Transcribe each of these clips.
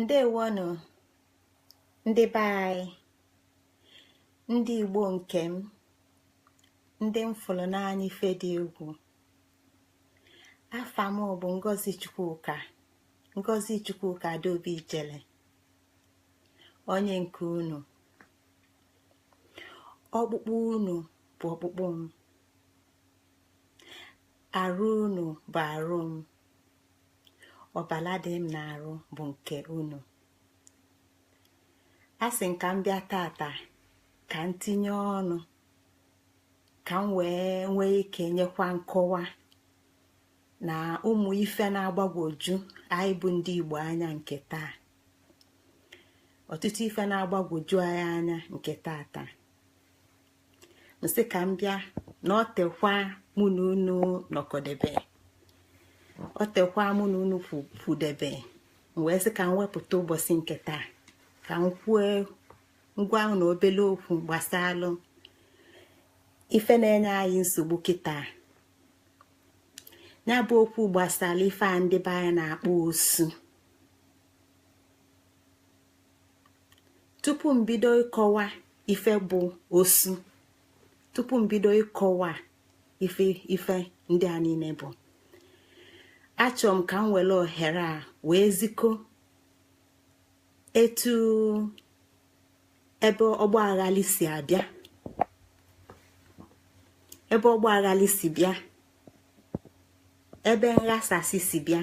ndewonụ ndị be anyị ndị igbo nke m ndị m fụrụ n'anya ife dị egwu afa m bụ ngozi chukwuka ngozi chukwuka adaobi ijele onye nke unu ọkpụkpụ unu bụ ọkpụkpụ m arụ unu bụ arụ m ọbala dị m n'arụ bụ nke unu asị m ka m bịa tata ka m tinye ọnụ ka m wee nwee ike nyekwa nkọwa na ụmụ ife na-agbagwoju anyị bụ ndị Igbo anya nke taa ọtụtụ ife na-agbagwoju anyị anya nke tata m sị ka m bịa na o tekwa mụ na unu nọkọdebe o tekwa mụ na unu fụdebe wee sị ka m wepụta ụbọchị nke taa ka m kwue ngwa na obele okwu gbasalụ ife na-enye anyị nsogbu kịta ya bụ okwu gbasalụ ife a ndị be anyị na-akpọ osu tupu m bido ịkọwa ife bụ osu tupu m bido ịkọwa ife ndị a niile bụ achọ m ka m were ohere a wee ziko etu ebe ọgba aghalị si abịa ebe ọgba aghalị si bịa ebe nghasasị si bịa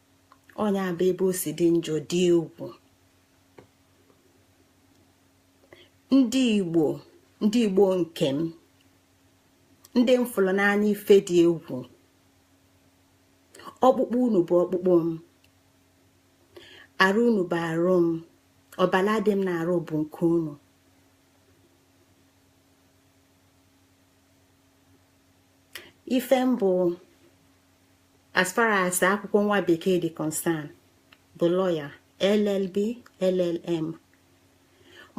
ọ nya bụ ebe o si dị njọ dị egwu ndị igbo ndị igbo nke m ndị m fụrụ n'anya ife dị egwu ọkpụkpụ unu bụ ọkpụkpụ m arụ unu bụ arụ m ọbala dị m n'arụ bụ nke unu ife m bụ as far as akwụkwọ nwa bekee dị concern bụ lawyer llb llm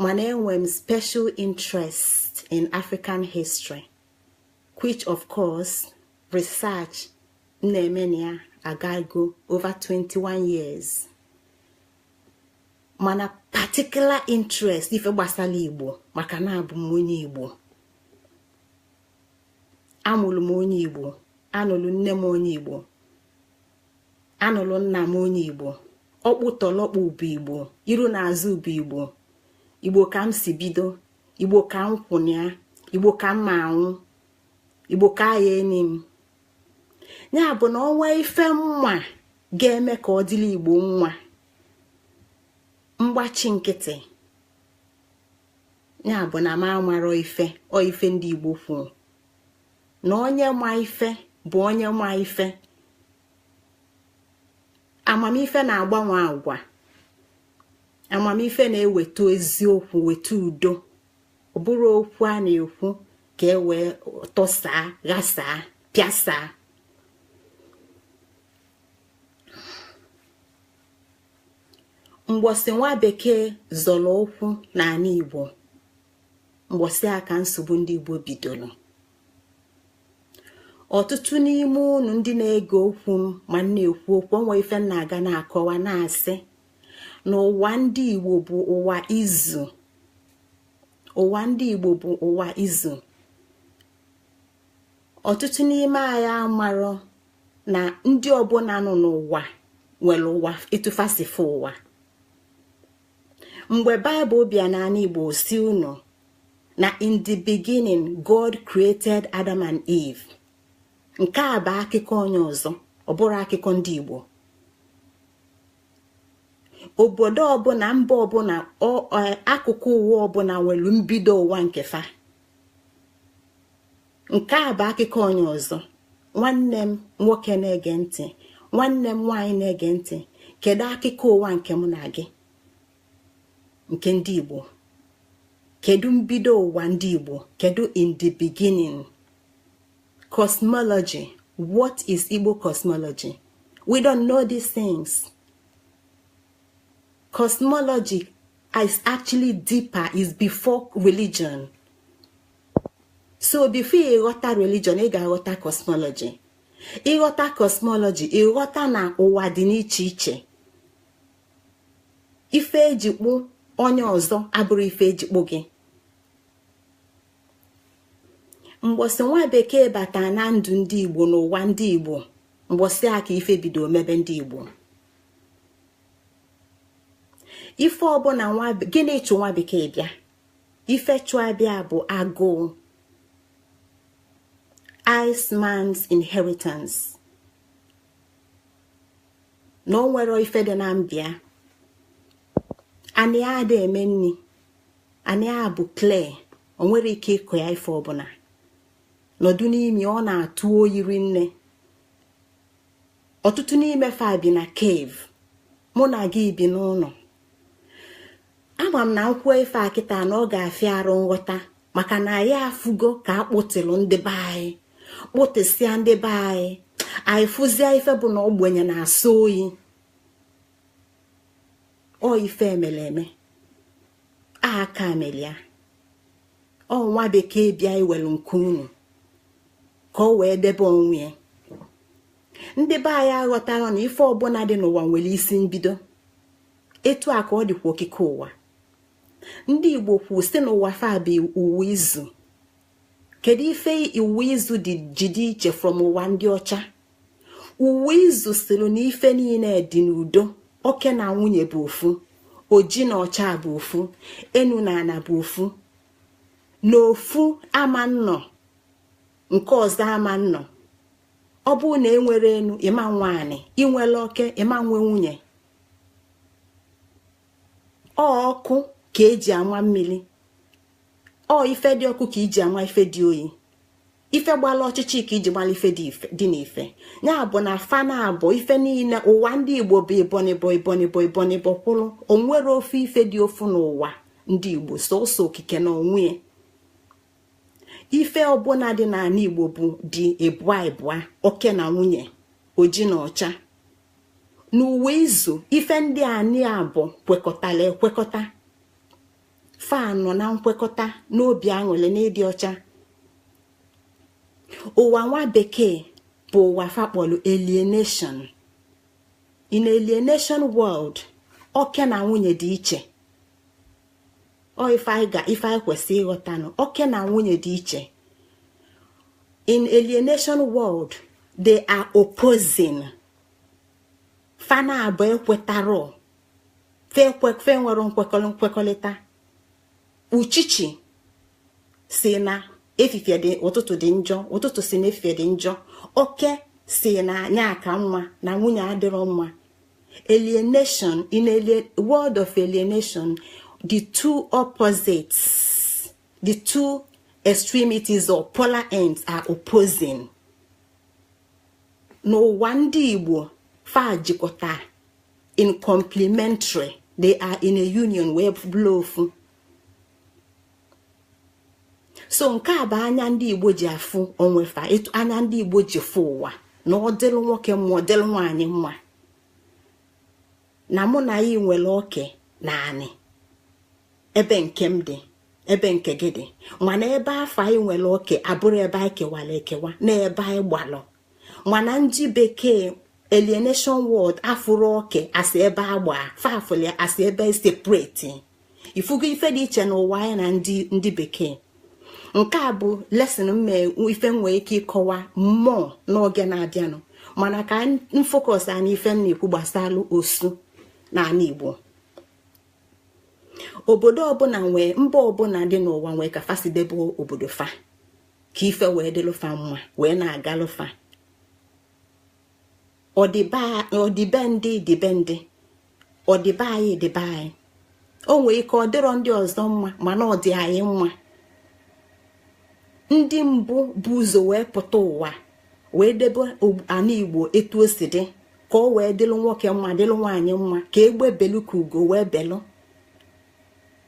mana enwe m special interest in african history which of course research m na-eme na ya agago over 21 years mana particular interest ife gbasalụ igbo maka na abụ m onye igbo amụrụ m onye igbo anụrụ nne m onye igbo anụrụ nna m onye igbo ọkpụ tọlọkpụ bụ igbo iru na azụ bụ igbo igbo ka m si bido igbo ka m kwụnịa igbo ka m ma anwụ igbo ka ya eni m ya bụ na onwerọ ife m ma ga-eme ka ọ dịrị igbo mma m gbachi nkịtị ya bụ na m amarọ ife ọ ife ndị igbo kwuru na onye ma ife bụ onye ma ife amamife na-agbanwe agwa amamife na-eweta eziokwu weta udo ọ bụrọ okwu a na-ekwu ka e wee tọsaa ghasaa pịasaa mgbọsị nwa bekee zọrọ ụkwụ n'anị igbo mgbọsị a ka nsogbu ndị igbo bidoro ọtụtụ n'ime unu ndị na-ege okwu m ma m na-ekwu okwu o nwe ife m na-aga na-akọwa na-asị na ụwa ndị igbo bụ ụwa izu ụwa ndị igbo bụ ụwa izu ọtụtụ n'ime anyị amarọ na ndị ọbụla nọ n'ụwa nwere ụwa etu fa si fụ ụwa mgbe baịbụl bịa n'anị igbo sị unu na in the beginning god created adam and eve nke a bụ akụkọ onye ọzọ ọ bụrọ akụkọ ndị igbo obodo ọbụla mba ọbụla akụkụ ụwa ọbụla nwere mbido ụwa nke fa nke a bụ akụkọ onye ọzọ nwanne m nwoke na-ege ntị nwanne m nwaanyị na-ege ntị kedu akụkọ ụwa nke mụ na gị nke ndị Igbo kedu mbido ụwa ndị Igbo kedu in the beginning cosmology what is Igbo cosmology we don't know these things cosmology is actually deeper is before religion so before ị ghọta religion ị ga-aghọta cosmology ị ghọta cosmology ị ghọta na ụwa dị n'iche iche ife eji kpụ onye ọzọ abụrọ ife eji kpụ gị mgbọsị nwa bekee bata na ndụ ndị igbo n'ụwa ndị igbo mgbọsị a ka ife bido mebe ndị igbo ife ọbụla nwa gịnị chụ nwa bekee bịa ife chụ ya bịa bụ agụụ Iceman's inheritance na o nwerọ ife dị na be ya anị a ada eme nni anị a bụ clay o nwerọ ike ịkọ ya ife ọbụla nọdụ n'ime ọ na-atụ oyi rinne ọtụtụ n'ime fa bi na cave mụ na gị bi n'ụnọ ama m na m kwuo ife a kịta na ọ ga-afịa arụ nghọta maka na anyị afụgo ka a kpụtịlụ ndị be anyị kpụtịsịa ndị be anyị anyị fụzie ife bụ na ogbenye na-asọ oyi ọ ife emele eme aka mele ya ọ nwa bekee bịa iwelu nke unu ka o wee debe onwe ya ndị be anyị aghọtarọ na ife ọbụla dị n'ụwa nwere isi mbido etu a ka ọ dịkwa okike ụwa ndị igbo kwu sị na ụwa fa bụ ụwa izu kedu ife ụwa izu dị ji dị iche from ụwa ndị ọcha ụwa izu sịrị na ife niine dị n'udo oke na nwunye bụ ofu oji na ọcha bụ ofu enu na ana bụ ofu na ofu ama nnọ nke ọzọ ama nnọ ọ bụrụ na enwerọ enu ịma nwe anị inwerọ oke ịma nwe nwunye ọ ọkụ ka eji ama mmiri ọ ife dị ọkụ ka eji ama ife dị oyi ife gbala ọchịchị ka eji mala ife dị n'ife ya bụ na fa na abọ ife niile ụwa ndị igbo bụ ibonibọ ibonibọ ibonibọ kwụrụ onwerọ ofu ife dị ofu n'ụwa ndị igbo sọsọ okike na onwe ife ọbụla dị n'ala igbo bụ dị ịbụa ịbụa oke na nwunye oji na ọcha n'ụwa izu ife ndị a na abọ kwekọtala ekwekọta fa nọ na nkwekọta n'obi aṅụlị n'ịdị ọcha ụwa nwa bekee bụ ụwa fa kpọlụ alienation in alienation world oke na nwunye dị iche ọ ife anyị ga ife anyị kwesị ịghọta na oke na nwunye dị iche in alienation world they are opposing fa na abọ ekwetarọ fe nwere nkwekọrịta uchichi sị na efifie dị ụtụtụ dị njọ ụtụtụ sị na efifie dị njọ oke sị na ya ka mma na nwunye adịrọ mma alienation in a world of alienation the two opposites the two extremities or polar ends are opposing n'ụwa ndị igbo fa jikọta in complementary they are in a union wee bụrụ ofu so nke a bụ anya ndị igbo ji afụ onwe fa etu anya ndị igbo ji fụ ụwa na ọ dịlụ nwoke mma ọ dịlụ nwaanyị mma na mụ na gị nwere oke na anị ebe nke m dị ebe nke gị dị mana ebe afụ anyị nwere oke abụrọ ebe anyị kewara ekewa na ebe anyị gbalụ mana ndị bekee alienation world afụrụ oke asị ebe agba fa fụlụ asị ebe separate ị fụgo ife dị iche n'ụwa anyị na ndị bekee nke a bụ lesson m ife nwee ike ịkọwa more n'oge na-abịanụ mana ka m focus a n'ife m na-ekwu gbasalụ osu n'ala Igbo obodo ọbụla nwee mba ọbụla dị n'ụwa nwee ka fa si debe obodo fa ka ife wee dịlụ fa mma wee na-agalụ fa ọ dị be ndị dị be ndị ọ dị be anyị dị be anyị o nwee ike ọ dịrọ ndị ọzọ mma mana ọ dị anyị mma ndị mbụ bu ụzọ wee pụta ụwa wee debe ana igbo etu o si dị ka o wee dịlụ nwoke mma dịlụ nwaanyị mma ka egbe belu ka ugo wee belu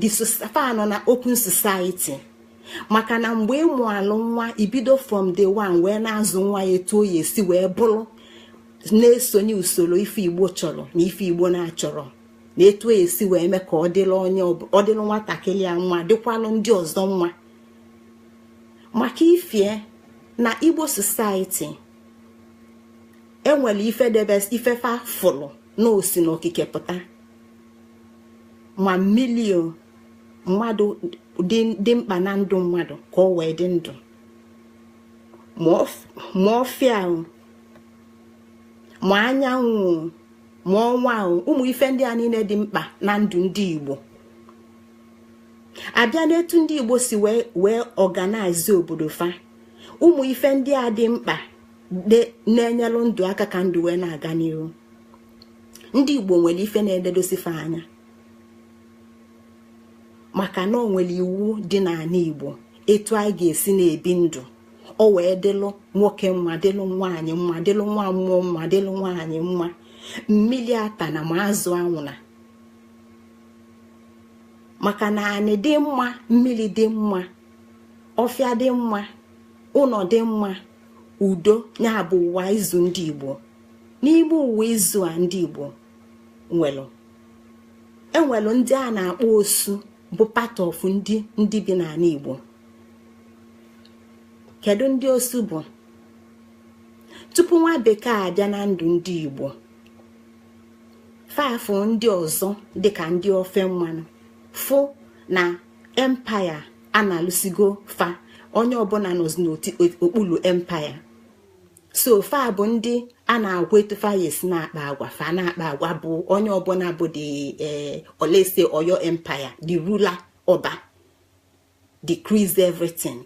the fa nọ na open society maka na mgbe ị mụalụ nwa i bido from day one wee na-azụ nwa ya etu ọ ya-esi wee bụrụ na-esonye usoro ife igbo chọrọ na ife igbo na-achọrọ na etu ọ ya-esi wee mee ka ọ dịlụ nwatakịrị a mma dịkwalụ ndị ọzọ mma maka ifie na igbo society e nwere ife debes ife fa fụrụ na o si na okike pụta ma mili o mmadụ dị mkpa na ndụ mmadụ ka o wee dị ndụ ma ọfịa o ma anyanwụ o ma ọnwa o ụmụ ife ndị a niine dị mkpa na ndụ ndị Igbo a bịa n'etu ndị Igbo si wee organize obodo fa ụmụ ife ndị a dị mkpa na-enyelụ ndụ aka ka ndụ wee na-aga n'iru ndị igbo nwere ife na-ededosi fa anya maka na o nwere iwu dị n'anị igbo etu anyị ga-esi na-ebi ndụ o wee dịlụ nwoke mma dịlụ nwaanyị mma dịlụ nwa mmụọ mma dịlụ nwaanyị mma mmili atana ma azụ anwụna maka na anị dị mma mmili dị mma ọfịa dị mma ụnọ dị mma udo ya bụ ụwa izu ndị igbo n'ime ụwa izu a ndị igbo nwelụ e nwelụ ndị a na-akpọ osu bụ part of ndị bi n'anị igbo kedu ndị osu bụ tupu nwa bekee abịa na ndụ ndị igbo fa afụ ndị ọzọ dịka ndị ofe mmanụ fụ na empire analụsigo fa onye ọbụna nọzi n'okpulu empire so fa bụ ndị a na-agwa etu fa ya-esi na-akpa agwa fa na-akpa agwa bụ onye ọbụna bụ the eh, or let's say oyo empire the ruler ọba decrees everything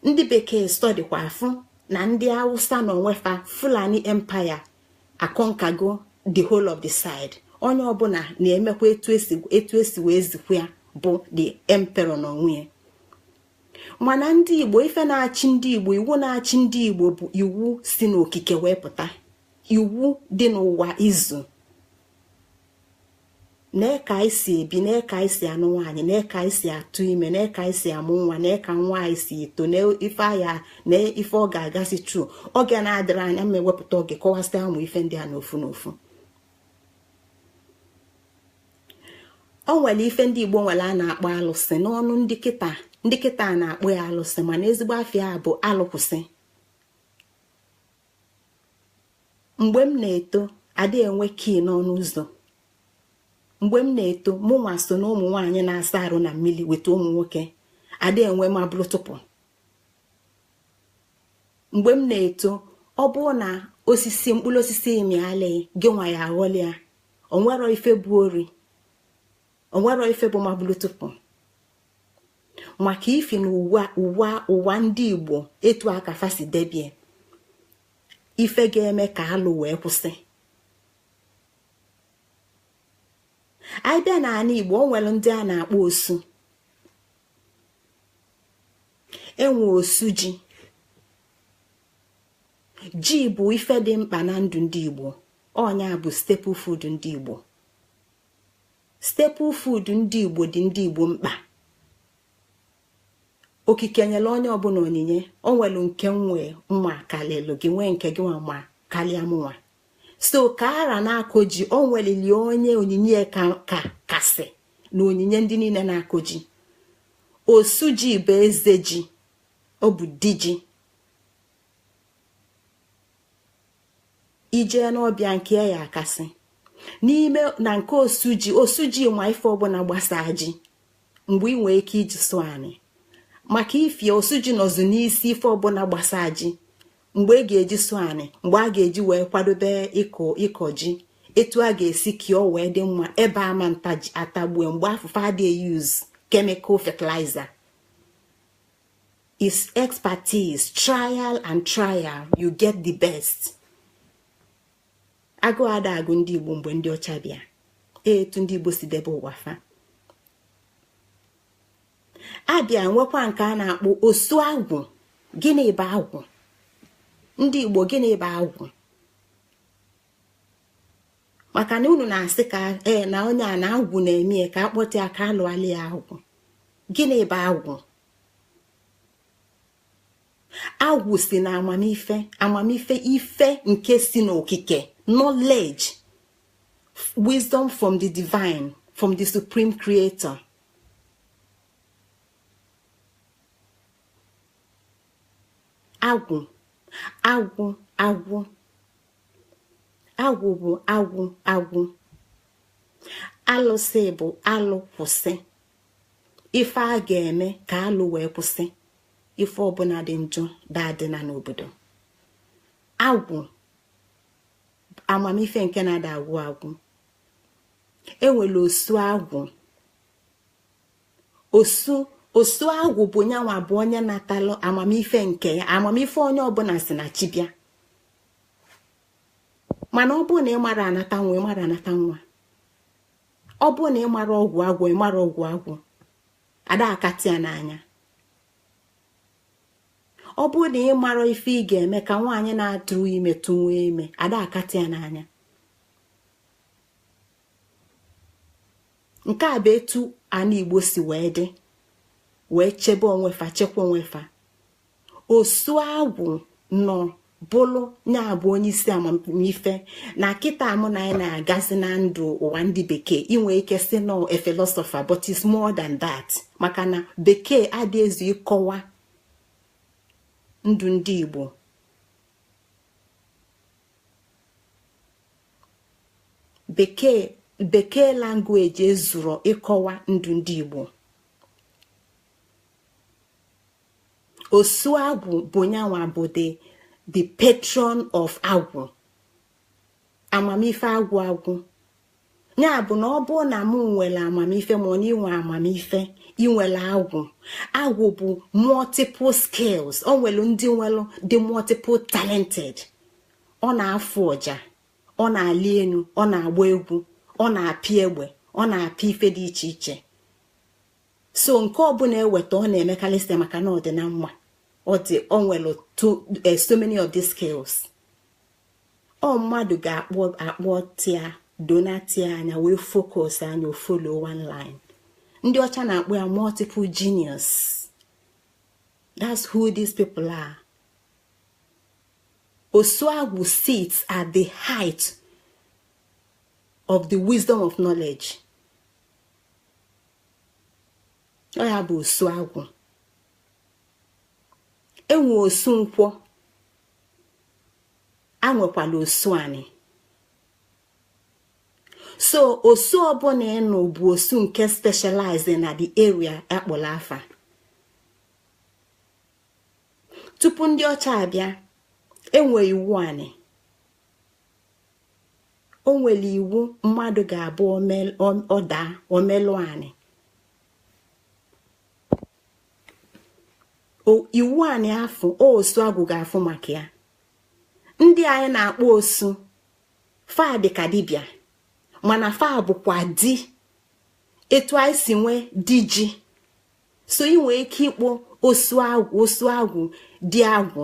ndị bekee studykwa afụ na ndị awụsa na onwe fa fulani empire aconquergo the whole of the side onye ọbụna na-emekwa etu e si wee zikwa ya bụ the emperor na onwe ya mana ndị igbo ife na-achị ndị igbo iwu na-achị ndị igbo bụ iwu si n'okike wee pụta iwu dị n'ụwa izu na ka anyị si ebi na ka anyị si anụ nwaanyị na ka anyị si atụ ime na ka anyị si amụ nwa na ka nwa anyị si eto na ife aya na ife ọ ga-agasị through oge na-adịrọ anya m ewepụta oge kọwasịa ụmụ ife ndị a n'ofu n'ofu o nwere ife ndị igbo nwere a na-akpọ alụsị n'ọnụ ndị kịta ndị kịta na-akpọ ya alụsị mana ezigbo afa ya bụ alụkwụsị mgbe m na-eto adị enwe key n'ọnụ ụzọ mgbe m na-eto mụ nwa so na ụmụ nwaanyị na-asa arụ na mmili with ụmụ nwoke adị enwe ma bụrụ tụpụ mgbe m na-eto ọ bụrụ na osisi mkpụrụ osisi mịalị gị nwa ya aghọlị ya o nwerọ ife bụ ori o nwerọ ife bụ mabulutupu maka ifi na ụwa ndị igbo etu aka fa si debie ife ga-eme ka alụ wee kwụsị anyị bịa n'anị igbo o nwere ndị a na-akpọ osu e nwe osu ji ji bụ ife dị mkpa na ndụ ndị igbo ọ nya bụ staple food ndị igbo staple food ndị igbo dị ndị igbo mkpa okike nyere onye ọbụla onyinye o nwere nke mụnwa ma kalịlụ gị nwee nke gịnwa ma kalịa mụnwa so ka ọra na-akọ ji o nwelili onye onyinye ya kasị na onyinye ndị niile na-akọ ji osu ji bụ eze ji ọ bụ di ji i jee n'ọba ya nke ya akasị n'ime na nke osu ji osu ji ma ife ọbụla gbasaa ji mgbe ị nwee ike iji sụọ anị maka ifie osu ji nọzu n'isi ife ọbụla gbasaa ji mgbe a ga-eji sụọ anị mgbe a ga-eji wee kwadobe ịkọ ji etu a ga-esi ka o wee dị mma ebe ama ata ji atagbue mgbe afụ fa ada e-use chemical fertilizer is expertise trial and trial you get the best agụụ ada agụ ndị igbo mgbe ndị ọcha bịa etu ndị igbo si debe ụwa fa a bịa nwekwa nke a na-akpọ osu agwụ gịnị bụ agwụ ndị igbo gịnị bụ agwụ maka na unu na-asị ka ee na onye a na agwụ na-eme ya ka a kpọta ya ka a lụalị ya agwụ gịnị bụ agwụ agwụ si na amamife amamife ife nke si n'okike knowledge wisdom from the divine from the supreme creator agwụ agwụ agwụ agwụ bụ agwụ agwụ alụsị bụ alụ kwụsị ife a ga-eme ka alụ wee kwụsị ife ọbụla dị njọ daadịna n'obodo agwụ amamife nke na ada agwụ agwụ e nwere osu agwụ osu osu agwụ bụ nyanwa bụ onye natalụ amamife nke ya amamife onye ọbụla si na chi bịa mana ọ bụ na ị mara anata nwa ị mara anata nwa ọ bụ na ị mara ọgwụ agwọ ị mara ọgwụ agwọ ada akatị ya n'anya ọ bụ na ị mara ife ị ga-eme ka nwaanyị na-atụrọ ime tụwa ime ada akatị ya n'anya nke a bụ etu ana igbo si wee dị wee chebe onwefa chekwa onwefa osu agwụ nọ bụlụ nya bụ onye isi amamife na kịta mụ na anyị na-agazi na ndụ ụwa ndị bekee i nwee ike sị na ọ a philosopher but it's more than that maka na bekee adị ezu ịkọwa ndụ ndị igbo bekee language ezuro ịkọwa ndụ ndị igbo osu agwụ bụ nyanwa bụ the the patron of agwụ amamife agwụ agwụ nya bụ na ọ bụ na mụ nwere amamife ma na i nwee amamife i nwere agwụ agwụ bụ multiple skills o nwere ndị nwere dị multiple talented ọ na-afụ ọja ọ na-ali enu ọ na-agba egwu ọ na-apị egbe ọ na-apị ife dị iche iche so nke ọbụna e weta ọ na-emekarị site maka na ọ dị na mma ọ dị o nwere eh, so many of these skills ọ mmadụ ga-akpọ akpọtịa dọnatịa anya wee focus anya ọ follow one line ndị ọcha na-akpọ ya multiple genius that's who these people are osu agwụ sits at the height of the wisdom of knowledge ọ ya bụ osu agwụ e nwee osu nkwọ e nwekwalụ osu anị so osu ọbụna ị nụ bụ osu nke specialize na the area a kpọlụ afa tupu ndị ọcha abịa e nwee iwu anị o nwere iwu mmadụ ga-abụ ọ daa o melụọ anị iwu anị afụ osu agwụ ga-afụ maka ya ndị anyị na-akpọ osu fa dịka dibịa mana fa bụkwa di etu anyị si nwee di ji so ị nwee ike ịkpọ osu agwụ di agwụ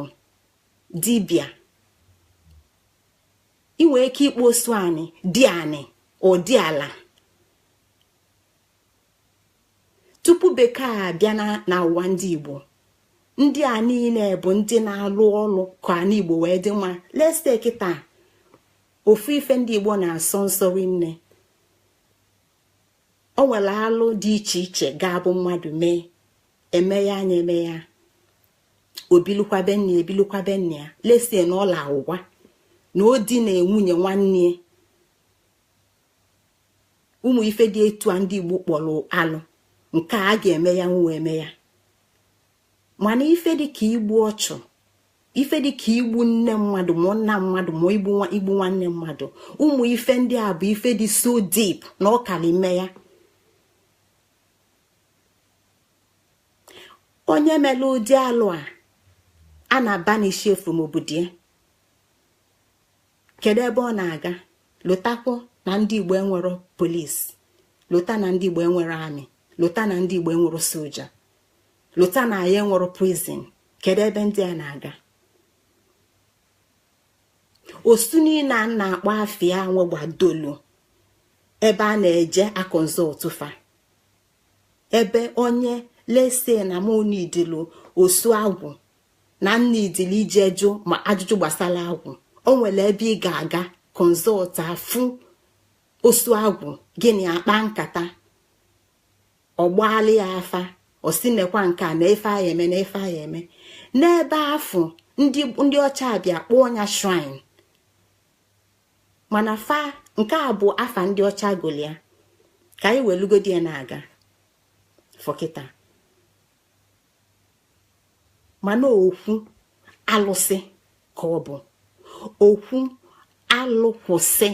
dibịa i nwere ike ịkpọ osu anị di anị or diala tupu bekee abịa na ụwa ndị igbo ndị a niine bụ ndị na-alụ ọlụ ka anị igbo wee dị mma let's say kịta ofu ife ndị igbo na-asọ nsọ rinne o nwere alụ dị iche iche ga-abụ mmadụ mee eme ya anya eme ya obilukwabe nne ebilukwabe nne ya let's say na ọla ụgwa na o dina nwunye nwanne ụmụ ife dị etu a ndị igbo kpọlụ alụ nke a ga-eme ya nwe eme ya mana ife dịka igbu ọchụ ife dịka igbu nne mmadụ ma nna mmadụ ma igbu nwanne mmadụ ụmụ ife ndị a bụ ife dị so deep na ọ kalị ime ya onye mere ụdị alụ a a na-abanishi ya from obodo ya kedu ebe ọ na-aga lotakwa na ndị igbo enwero polisi lota na ndị igbo enwero army lota na ndị igbo enwero soja lota na anyị enwero prison kedu ebe ndị a na-aga osu niile a na-akpọ afa ya nwegbadolu ebe a na-eje akọnsọltụ fa ebe onye let's say na m needili osu agwụ na m needili ije jụọ ụmụ ajụjụ gbasara agwụ o nwere ebe ị ga-aga consult a fụ osu agwụ gị na ya akpa nkata ọ gbaala ya afa ọ sị nekwa nke a na ife a eme na ife a eme n'ebe afụ ndị ọcha abịa kpọọ ya shrine mana afa nke a bụ afa ndị ọcha gụlụ ya ka anyị welugodi ya na-aga for kịta mana okwu alụsị ka ọ bụ okwu alụ kwụsị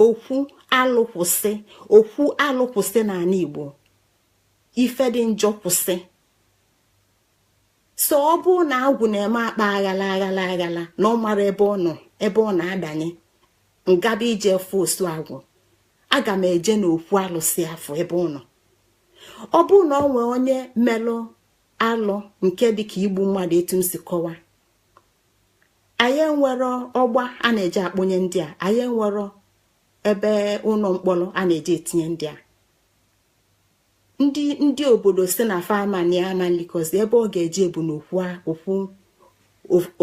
okwu alụ kwụsị okwu alụ kwụsị n'anị Igbo ife dị njọ kwụsị so ọ bụ na agwụ na-eme akpa aghala aghala na ọ mara ebe ọ nọ ebe ọ na-adanye m gaba ije fụ osu agwụ aga m eje n'okwu alụsị afụ ebe ọ nọ ọ bụ na ọ nwee onye melụ alụ nke dịka igbu mmadụ etu m si kọwa anyị enwero ọgba a na-eji akpọnye ndị a anyị enwero ebe ụnọ mkpọlọ a na-eji etinye ndị a ndị ndị obodo sị na fama na ama likozi ebe ọ ga-eje bụ n'okwu okwu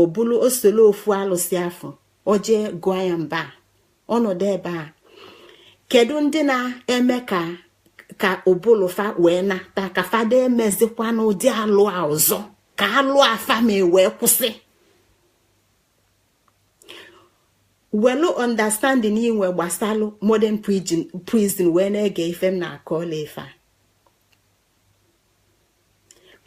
o bulu ọsọ luo okwu alụsị afụ o je gụọ ya mba ọ nọdụ ebe a kedu ndị na-eme ka ka ụbụlụ fa wee nata ka fa ada emezikwa n'ụdị alụ a ọzọ ka alụ a fa me wee kwụsị welu understanding i nwe gbasalụ modern prison wee na-ege ife m na-akọ ọla ife a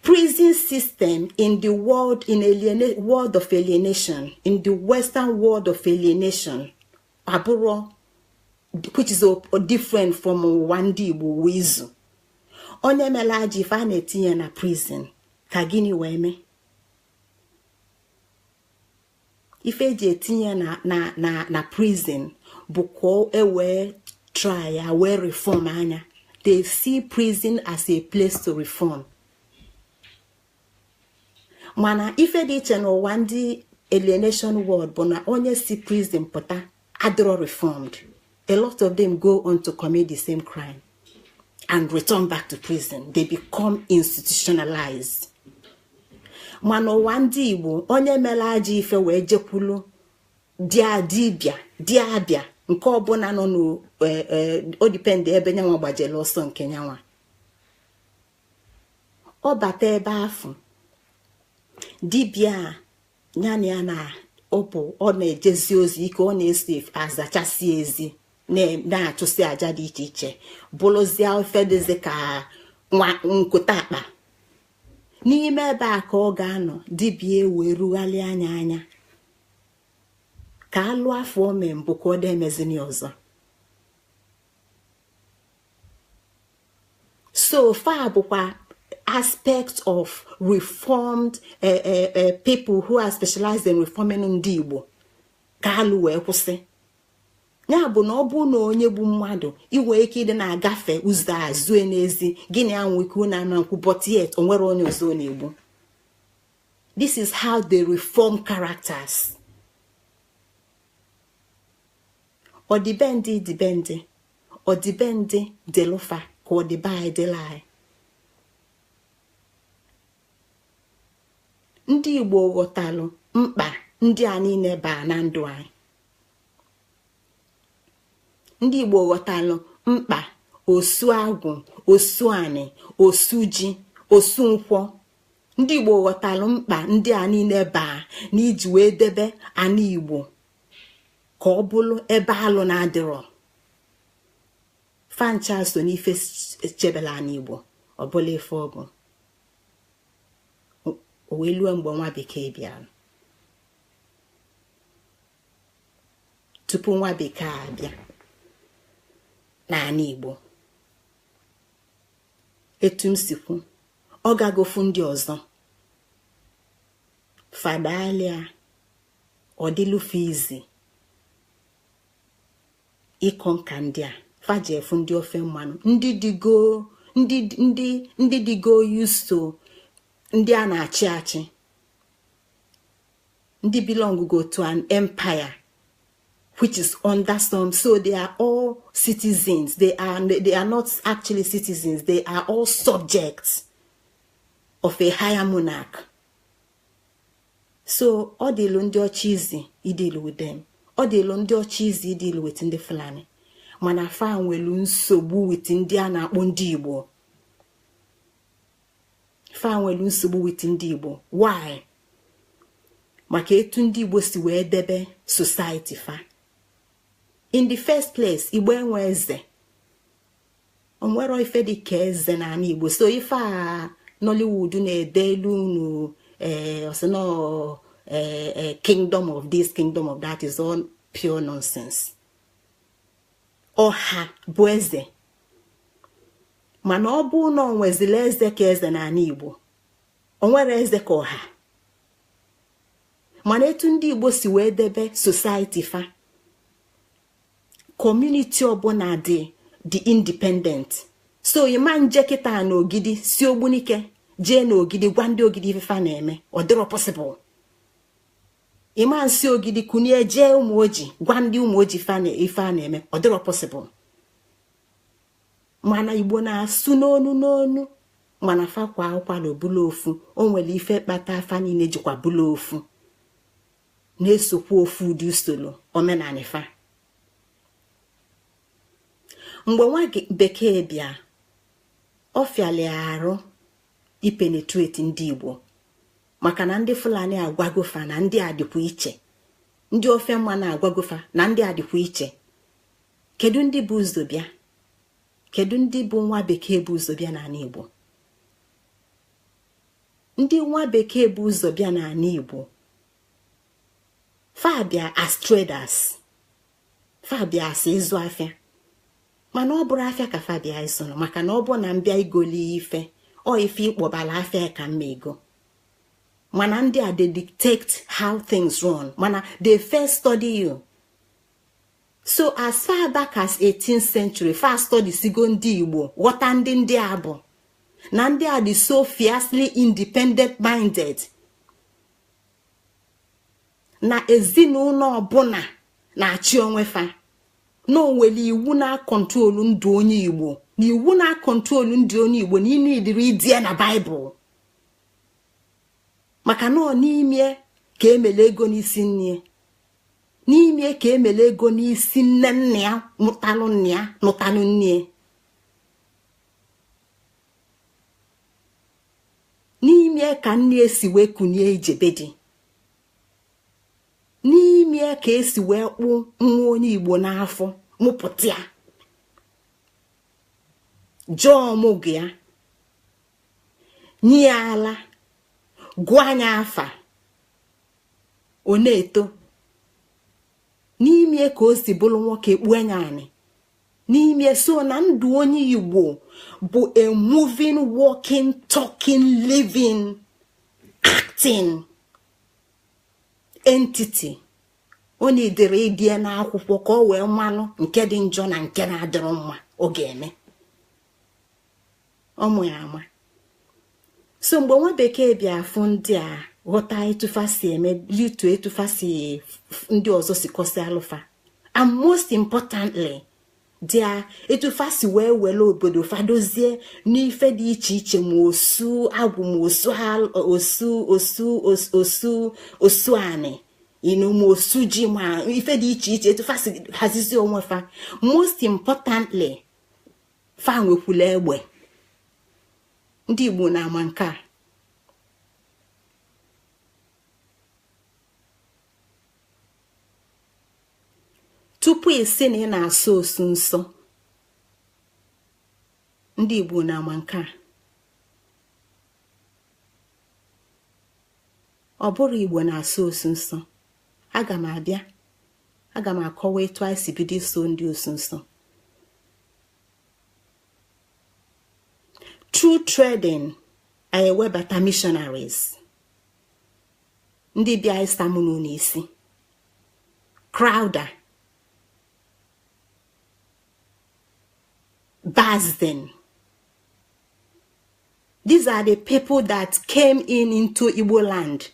prison system in the world in aliena world of alienation in the western world of alienation abụrọ which is a, different from ụwa ndị Igbo uwe izu onye melu ajọ ife a na-etinye na prison ka gịnị wee mee ife e ji etinye ya na na na prison bụ ka e wee try ya wee reform nya they see prison as a place to reform mana ife dị iche n'ụwa ndị alienation world bụ na onye si prison pụta adịrọ reformed a lot of them go on to commit the same crime and return back to prison they become institutionalized mana ụwa ndị igbo onye melu ajọ ife wee jekwulu di dibịa dibịa nke ọbụla nọ ọ depend e, e, ebe nyanwa gbajelu ọsọ nke nyanwa ọ bata ebe afụ dibịa ya na ya na ọpụ ọ na-ejezi ozi ike ọ na-esi azachasị ezi na-achụsị aja dị iche iche bụrụzie ife dịzi ka nwa nkụta akpa n'ime ebe a ka ọ ga-anọ dibịa wee rugharịa nya anya ka alụ afụ o me mbụ ka ọ dị emezini ọzọ so fa bụkwa aspect of reformed uh, uh, uh, people who are specialized in reforming ndị Igbo ka alụ wee kwụsị ya bụ na ọ bụ na onye gbu mmadụ i nwe ike ịdị na-agafe ụzọ a zue n'ezi gịnị anwụ ike n'ama nkwọ but yet o nwerọ onye ọzọ ọ na-egbu this is how they reform characters ọdịbendị dịbendị ọdịbendị dịlị fa ka ọdịbe anyị dịlị anyị ndị igbo ghọtalụ mkpa ndị a niile baa na ndụ anyị ndị igbo ghọtalụ mkpa osu agwụ osu anị osu ji osu nkwọ ndị igbo ghọtalụ mkpa ndị a niile baa na iji wee debe anị igbo ka ọ bụlụ ebe alụ na-adịrọ fa ncha so n'ife chebelu anị igbo ọ bụlụ ife ọ bụ o wee lue mgbe nwa bekee bịara tupu nwa bekee abịa n'anị igbo etu m si kwu ọ gagofu ndị ọzọ fa dalịa ọ dịlụ fa easy ịconquer ndị a faji efu ndị ofe mmanụ ndị digo ndị ndị ndị digo used to ndị a na-achị achị ndị belong go to an empire which is under some so they are all citizens they are they are not actually citizens they are all subjects of a higher monarch so ọ dịlụ ndị ọcha easy ịdeal with them ọ dịlụ ndị ọcha easy ịdeal with ndị fulani mana fa nwelu nsogbu with ndị a na-akpọ ndị igbo fa nwelu nsogbu with ndị igbo why maka etu ndị igbo si wee debe society fa in the first place igbo enwe eze o nwerọ ife dị ka eze n'ani igbo so ife a nollywood na-edelu unu ee eh, ọ sị na ee eh, eh, kingdom of this kingdom of that is all pure nonsense ọha bụ eze mana ọ bụ na o nwezila eze ka eze n'ani igbo o nwerọ eze ka ọha mana etu ndị igbo si wee debe society fa community ọbụna dị dị independent so ị ma-eje kịta na ogidi si ogbunike jee na ogidi gwa ndị ogidi ife fa na-eme ọ dịrọ possible ị ma-esi ogidi kunie jee ụmụoji gwa ndị ụmụoji ife a na-eme ọ dịrọ possible mana igbo na-asụ n'onu n'onu mana fa kwaa ụkwala ọ bụlụ ofu o nwelu ife kpata fa niine jikwa bụlụ ofu na-esokwa ofu ụdị usolo omenani fa mgbe nwa bekee bịa ọ fịali arụ ipenetrate ndị igbo maka na ndị fulani agwago fa na ndị a dịkwa iche ndị ofe mmanụ agwago fa na ndị a dịkwa iche kedu ndị bu ụzọ bịa kedu ndị bụ nwa bekee bu ụzọ bịa n'ani igbo ndị nwa bekee bu ụzọ bịa n'ani igbo fa bịa as traders fa bịa as ịzụ afịa mana ọ bụrọ afịa ka fa bịa ịzụrụ maka na ọ bụ na m bịa igoli ife or ife ị kpọbala afịa ka mma ego mana ndị a they dictate how things run mana they first study you so as far back as 18th century fa studysigo ndị igbo ghọta ndị ndị a bụ na ndị a dị so fiercely independent minded na ezinụlọ ọbụla na-achị onwe fa na onwere iwu na-akọntrolu ndụ onye igbo na iwu na-akọntrolu ndụ onye igbo na ịnụ edere ede na baịbụl maka na ọ n'ime ka emele ego n'isi nne n'ime ka emele ego n'isi nne nne ya mụtalụ nne ya nụtalụ nne ya n'ime ka nne si wee kunie ije be di n'ime ka esi wee kpụ nwa onye igbo n'afọ mụpụta ya jee ọmụgwọ ya nye ya ala gụọ nya afa ọ na-eto n'ime ka o si bụrụ nwoke kpuo nya anị n'ime so na ndụ onye igbo bụ a moving walking talking living acting entity ọ na-edere ede n'akwụkwọ ka ọ wee malụ nke dị njọ na nke na-adịrọ mma ọ ga-eme ọ ma ya ama so mgbe nwa bekee bịa afụ ndị a ghọta etu fa si eme litu etu fa si ndị ọzọ si kọsịalụ fa and most importantly dia etu fa si wee were obodo fa dozie n'ife dị iche iche ma osu agwụ ma osu osu osu osu osu anị inu ma osu ji ma ife dị iche iche etu fa si hazizi onwe fa most importantly fa nwekwula egbe ndị igbo nụa nke a tupu ị sị na ị na-asọ osu nsọ ndị igbo nụa nke a ọ bụrọ igbo na-asọ osu nsọ aga m abịa aga m akọwa etu anyị si bido ịsọ ndị osu nsọ through trading anyị ewebata missionaries ndị bịa ịsa unu n'isi Crowther Basden. These are the people that came in into Igbo land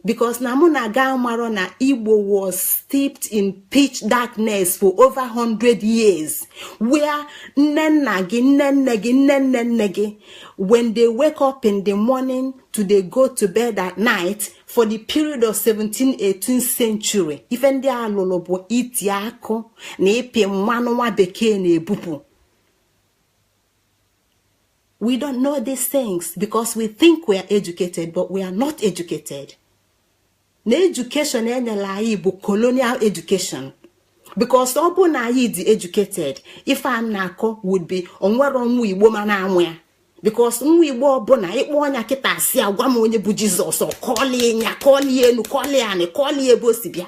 because na mụ na gị amarọ na igbo was steeped in pitch darkness for over 100 years where nne nna gị nne nne gị nne nne nne gị when they wake up in the morning to they go to bed at night for the period of 17th 18th century ife ndị a lụlụ bụ iti akụ na ịpị mmanụ nwa bekee na-ebupụ we don't know these things because we think we are educated but we are not educated na education e nyelụ anyị bụ colonial education because ọ bụ na anyị dị educated ife a na-akọ would be o nwerọ nwa igbo ma na-amụ ya because nwa igbo ọbụna ị kpọọ nya kịta sị ya gwa m onye bụ Jesus ọ kọlie nya kọlie enu kọlie anị kọlie ebe o si bịa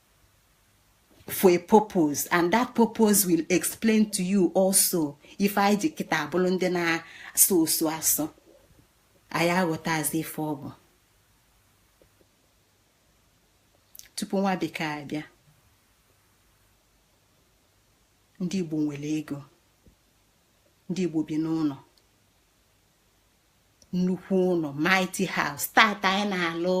for a purpose and that purpose will explain to you also ife anyị ji kịta abụrụ ndị na-asọ osu asọ anyị aghọtazi ife ọ bụ tupu nwa bekee abịa ndị Igbo nwere ego ndị Igbo bi n'ụnọ nnukwu ụlọ mighty house tata anyị na-alụ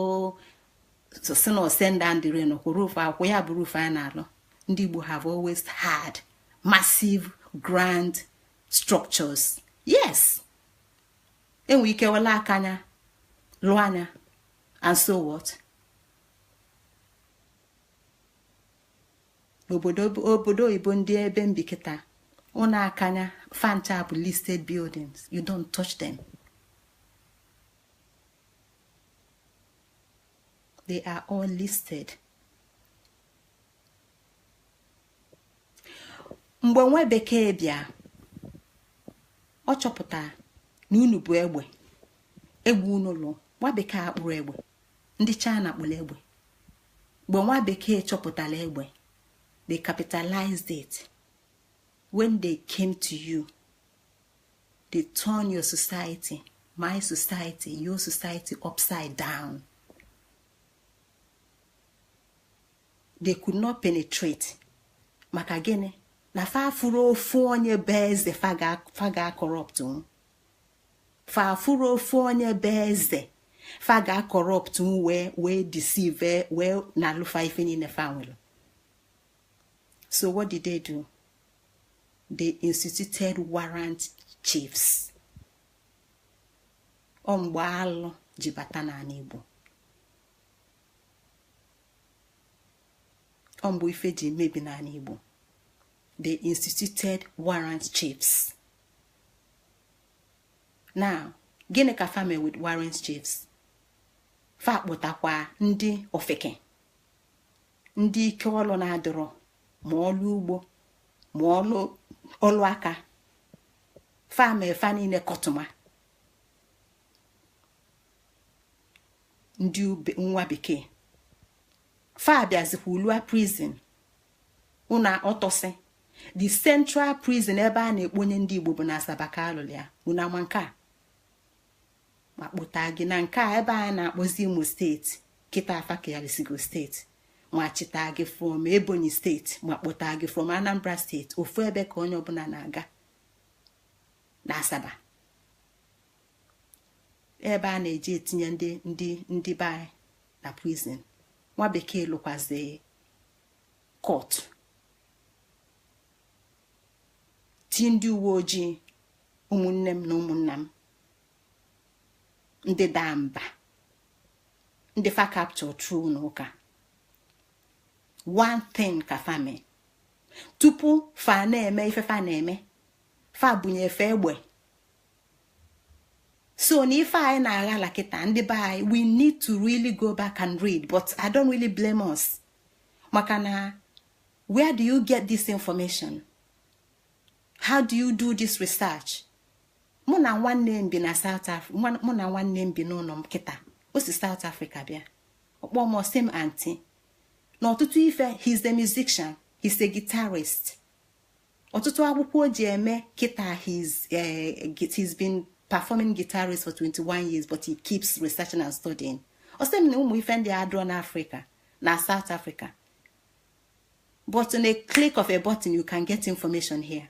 sị na ọ send down the rain roof ọ kwa ya bụ roof anyị na-alụ ndị Igbo have always had massive grand structures yes enwe ike welụ akanya lụọ nya and so what n'obodo obodo oyibo ndị ebe m bi kịta ụnọ akanya fa ncha bụ listed buildings you don't touch them they are all listed mgbe nwa bekee bịa ọ chọpụta na unu bu egbe egbe unu lụ nwa bekee akpụrọ egbe ndị china kpụrụ egbe mgbe nwa bekee chọpụtara egbe they capitalized it when they came to you they turn your society my society your society upside down they could not penetrate maka gịnị na fa afụrọ ofu onye bụ eze fa ga-acorrupt fa afụrọ ofu onye bụ eze fa ga-acorrupt wee wee deceive wee nalụ fa ife niine fa nwere so what did they do they instituted warrant chiefs ọ mgbe alụ ji bata n'anị Igbo ọ mgbe ife ji mebi n'anị Igbo they instituted warrant chiefs now gịnị ka fa me with warrant chiefs fa kpụtakwa ndị ofeke ndị ike ọlụ na-adịrọ ma ọlụ ugbo ma ọlụ ọlụ aka fa me fa niile kọtụma ndị nwa bekee fa bịazikwa lụa prison unu ọtọsị the central prison ebe a na-ekponye ndị igbo bụ na asaba ka a lụlụ ya unu ama nke a ma kpụta gị na nke a ebe a na-akpọzi imo steeti kịta a fa kewarisigo steeti ma chịta gị from ebonyi steeti ma kpụta gị from anambra steeti ofu ebe ka onye ọbụla na-aga na asaba ebe a na-eji etinye ndị ndị ndị be na prison nwa bekee lụkwazi court ti ndị uwe ojii ụmụnne m na ụmụnna m ndị daa mba ndị fa capture through na ụka one thing ka fa mee tupu fa na-eme ife fa na-eme fa bunye fa egbe so na ife anyị na-aghala kịta ndị be anyị we need to really go back and read but i don't really blame us maka na where do you get this information how do you do this research mụ na nwanne m bi na south africa mụ na nwanne m bi n'ụlọ m kịta o si south africa bịa ọ kpọ m ọ sị m aunty n'ọtụtụ ife he's a musician he's a guitarist ọtụtụ akwụkwọ o ji eme kịta his eh, he's been performing guitarist for 21 years but he keeps researching and studying ọ sị m na ụmụ ife ndị a adịrọ n'africa na south africa but in a click of a button you can get information here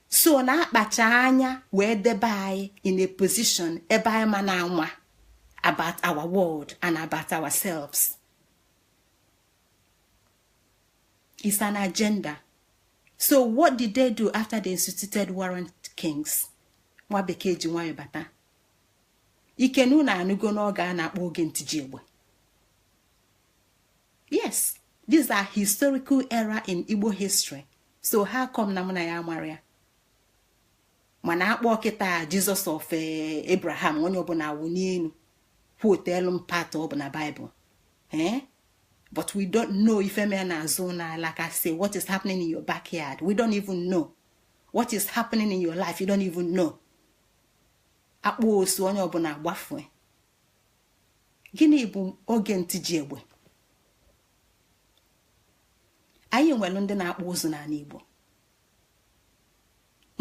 so na a kpacha anya wee debe anyị in a position ebe anyị ma na-ama about our world and about ourselves is an agenda so what did they do after they instituted warrant kings nwa bekee ji nwayọ bata ike na unu anụgo n'oge a na-akpọ oge ntiji egbe yes these are historical era in igbo history so how come na mụ na gị amarọ ya mana a kpọ kịta jesus of eh, abraham onye ọbụla awụnie elu quotelu m part ọ bụ na bible ee eh? but we don't know ife mere n'azụ ụlọ anyị like I say what is happening in your backyard we don't even know what is happening in your life you don't even know a kpọ osu onye ọbụla agbafue gịnị bụ oge ntiji egbe anyị nwere ndị na-akpụ ụzụ n'ala Igbo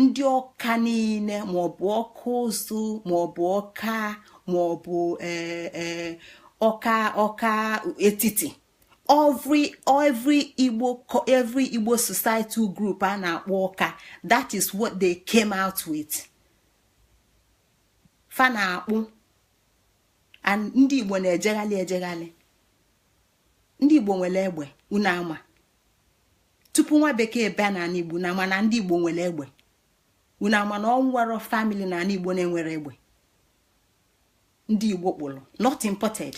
ndị ọka niile maọbụ ọka ụzụ maọbụ ọka maọbụ e, e, ọka ọka etiti every every igbo every igbo societal group a na-akpọ ọka that is what they came out with fa na-akpụ and ndị igbo na-ejeghalị ejeghalị ndị igbo nwere egbe unu ama tupu nwa bekee bịa na ala igbo na mana ndị igbo nwere egbe unu ama na o nwero family na ala igbo na-enwero egbe ndị igbo kpụrụ not imported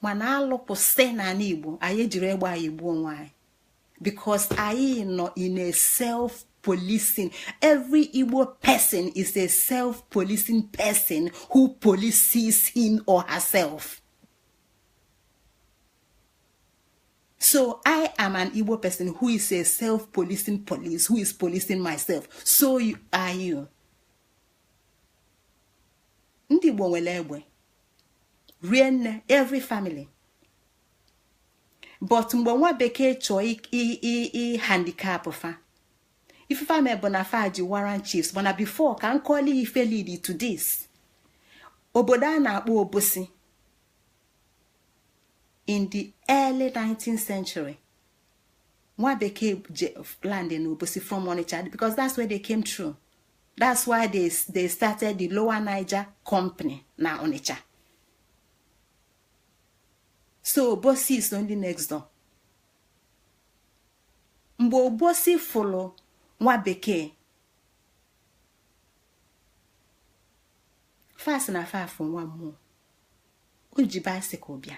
mana alụkwụsị na ala igbo anyị ejiro egbe anyị egbu onwe anyị because anyị nọ in a self policing every igbo person is a self policing person who polices him or herself. So I am an Igbo person who is a self-policing police, who is policing myself. So you, are you. Ndị Igbo nwere egbe. Rie nne, every family. But mgbe nwa bekee chọọ ịhandicap fa. Ife fa mee bụ na fa ji warrant chiefs, mana before ka m kọọlụ ife lead to this. Obodo a na-akpọ Obosi. in the early 19th century nwa bekee land in obosi from onitsha because that's where they came through that's why they, they started the lower niger company na onitsha so obosi is only next door mgbe obosi fụlụ nwa bekee fa sị na fa fụ nwa mmụọ o ji bicycle bịa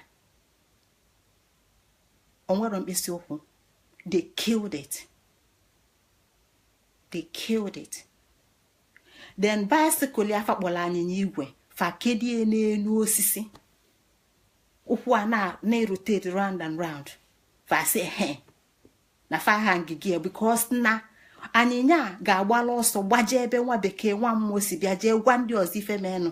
o nwero mkpịsị ụkwụ they killed it they killed it then bicycle ya fa kpọrọ anyịnya igwe fa kedie n'elu osisi ụkwụ ya na-erotate round and round fa sị he na fa hangi ya because na anyịnya ga-agbala ọsọ gbaje ebe nwa bekee nwa mmụọ si bịa jee gwa ndị ọzọ ife menụ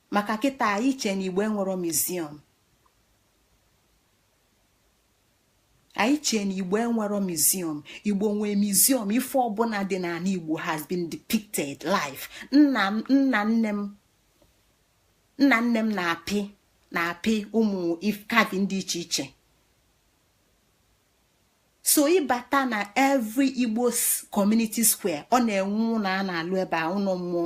maka kịta anyị chee na igbo enwero museum anyị chee na igbo enwero museum igbo nwee museum ife ọbụla dị n'ala igbo has been depicted live nna nna nne m nna nne m na-apị na-apị ụmụ carving dị iche iche so ị bata na every igbo community square ọ na-enwe ụlọ a na-alụ ebe a ụlọ mmụọ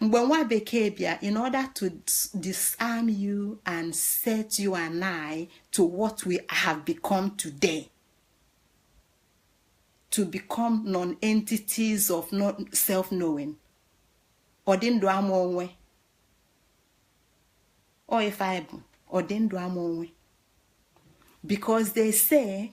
mgbe nwa bekee bịa in order to disarm you and set you and I to what we have become today to become non-entities of self-knowing ọ dị ndụ ama onwe ọ ife anyị bụ ọ dị ndụ ama onwe because they say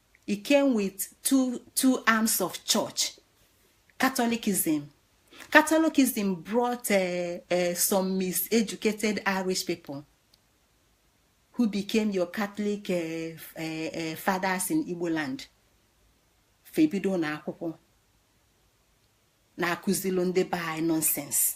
he came with two two arms of church catholicism catholicism brought uh, uh, some miseducated irish people who became your catholic uh, uh, uh, fathers in igbo land fa ebido na akwụkwọ na-akụzilu ndị be anyị nonsense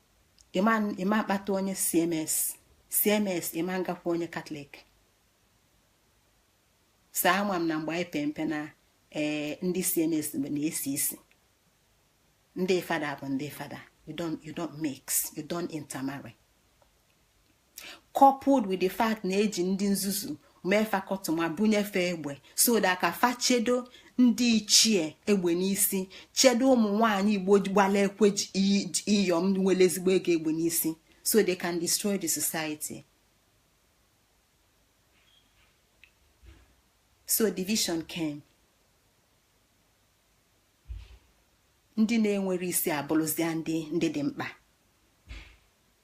ị ma-akpata onye cms cms ị ma-agakwa onye catholic so ama m na mgbe anyị pee mpe na ee eh, ndị cms na-esi isi ndị fada bụ ndị fada you don't you don't mix you don't intermarry coupled with the fact na eji ndị nzuzu mee fa kọtụma bunye fa egbe so that ka fa chedo ndị ichie egbe n'isi chedo ụmụ nwanyị igbo gbala ekwe iyom nwere ezigbo ego egbe n'isi so they can destroy the society so division came ndị na-enwerọ isi abụrụzia ndị ndị dị mkpa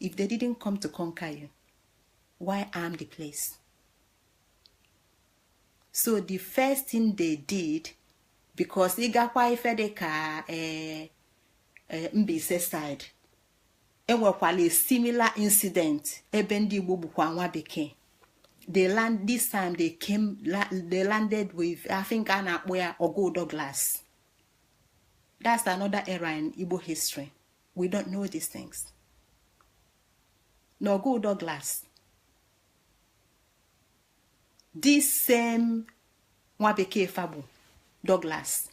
if they didn't come to conquer you why arm the place so the first thing they did because ị gakwa ife dị ka eh, eh, Mbaise side e nwekwala a similar incident ebe ndị Igbo gbukwa nwa bekee they land this time they came they landed with I think a na-akpọ ya Ọgụ Douglas that's another era in Igbo history we don't know these things na ọgụ Douglas this same nwa bekee fa gbu Douglas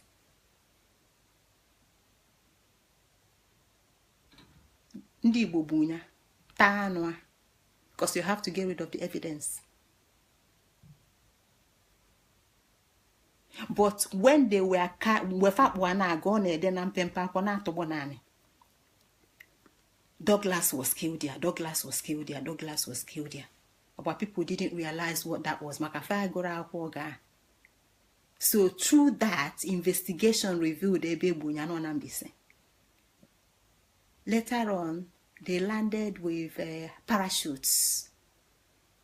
ndị Igbo gbu ya taa anụ a because you have to get rid of the evidence but when they were ka mgbe fa kpụ a na-aga ọ na-ede na mpempe akwụkwọ na-atụgbọ n'anị Douglas was killed there Douglas was killed there Douglas was killed there Igbo people didn't realize what that was maka fa agụrọ akwụkwọ ga so through that investigation revealed ebe e gbu nya nọ na Mbaise later on they landed with uh, parachutes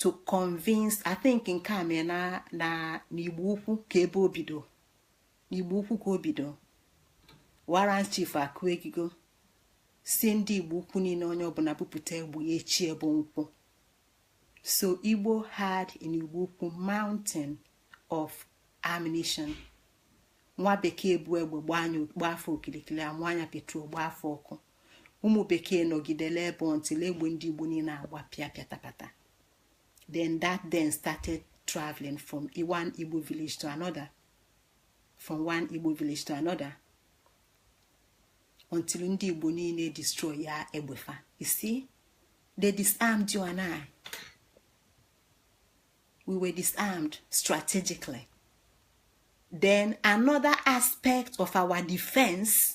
to convince i think nke a mee na na n'igbo ukwu ka ebe o bido n'igbo ukwu ka o bido warrant chief akụ egigo sị ndị igbo ukwu niine onye ọbụna bupụta egbe ya echi ebe nkwọ so igbo had in igbo ukwu mountain of ammunition nwa bekee bu egbe gbaa fa okilikili amụnye ya petrol gbaa fa ọkụ ụmụ bekee nọgidele ebe until egbe ndị igbo niine agbapịa pịatapata then that then started traveling from one igbo village to another from one igbo village to another until ndị igbo niine destroy ya egbe fa you see they disarmed you and i we were disarmed strategically then another aspect of our defense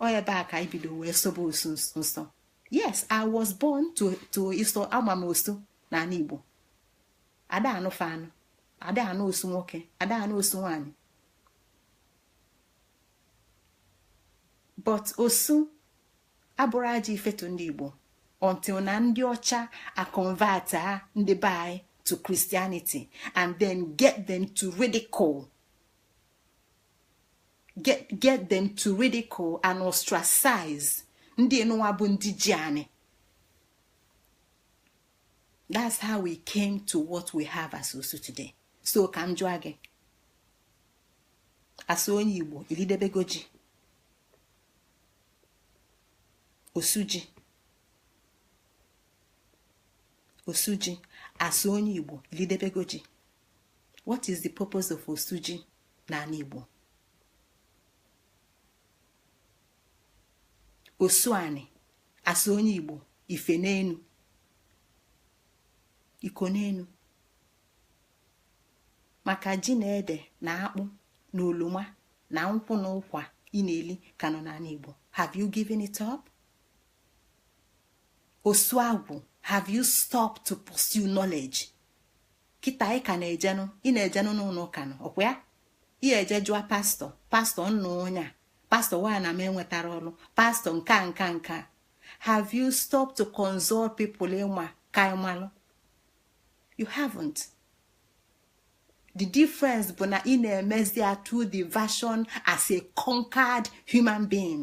ọ ebe a ka e bido wee sọbe osu nsọ yes i was born to to iso ama m osu n'anị igbo ada anụ fa anụ ada anụ osu nwoke ada anụ osu nwanyị but osu abụrọ ajọ ife to ndị igbo until na ndị ọcha aconvertịa ndị be anyị to christianity and then get them to ridicule get get them to ridicule and ostracize ndị nụwa bụ ndị ji anị that's how we came to what we have as osu today so ka m jụọ gị as onye igbo i lidebego ji osu ji osu ji as onye igbo i lidebego ji what is the purpose of osu ji n'anị Igbo osu anị as onye Igbo ife n'enu iko n'enu maka ji na ede na akpụ na oloma na nkwụ na ụkwa ị na-eli ka nọ n'anị Igbo have you given it up? osu agwụ have you stopped to pursue knowledge? kịta ị ka na-ejenụ ị na-ejenụ n'ụnọ ụka nụ ọkwa ya ị eje jụọ pastor pastor nenụ onye a pastor nwanne m enwetarọ ọlụ pastor nke a nke a nke a have you stopped to consult people ị ma ka ị malụ you haven't the difference bụ na ị na-emezi ya through the version as a conquered human being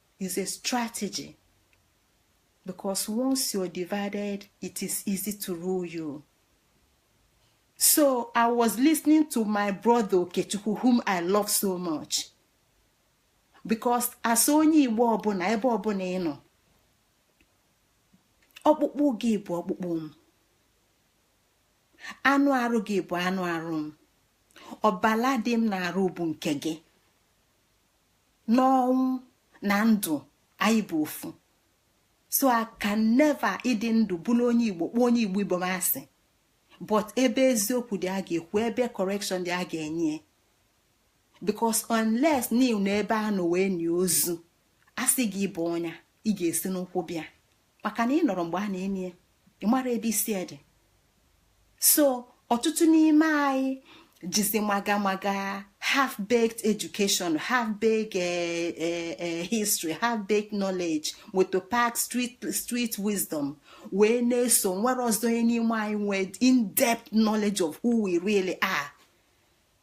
is a strategy because once you're divided it is easy to rule you so i was listening to my brother okechukwu whom i love so much because as onye igbo ọbụna ebe ọbụna ị nọ ọkpụkpụ gị bụ ọkpụkpụ m anụ arụ gị bụ anụ arụ m ọbala dị m n'arụ bụ nke gị n'ọnwụ na ndụ anyị bụ ofu so I can never ịdị ndụ bụrụ onye igbo kpọọ onye igbo ibe m asị but ebe eziokwu dị a ga-ekwu ebe correction dị a ga-enye because unless na ị nọ ebe a nọ wee nie ozu a sị gị bọnie ya ị ga-esi n'ụkwụ bịa maka na ị nọrọ mgbe a na-eni ya ị mara ebe isi dị so ọtụtụ n'ime anyị jizi maga maga half baked education half baked eh, eh, eh, history half baked knowledge motor park street street wisdom wee na-eso o nwerọzi onye n'ime anyị nwee in-depth knowledge of who we really are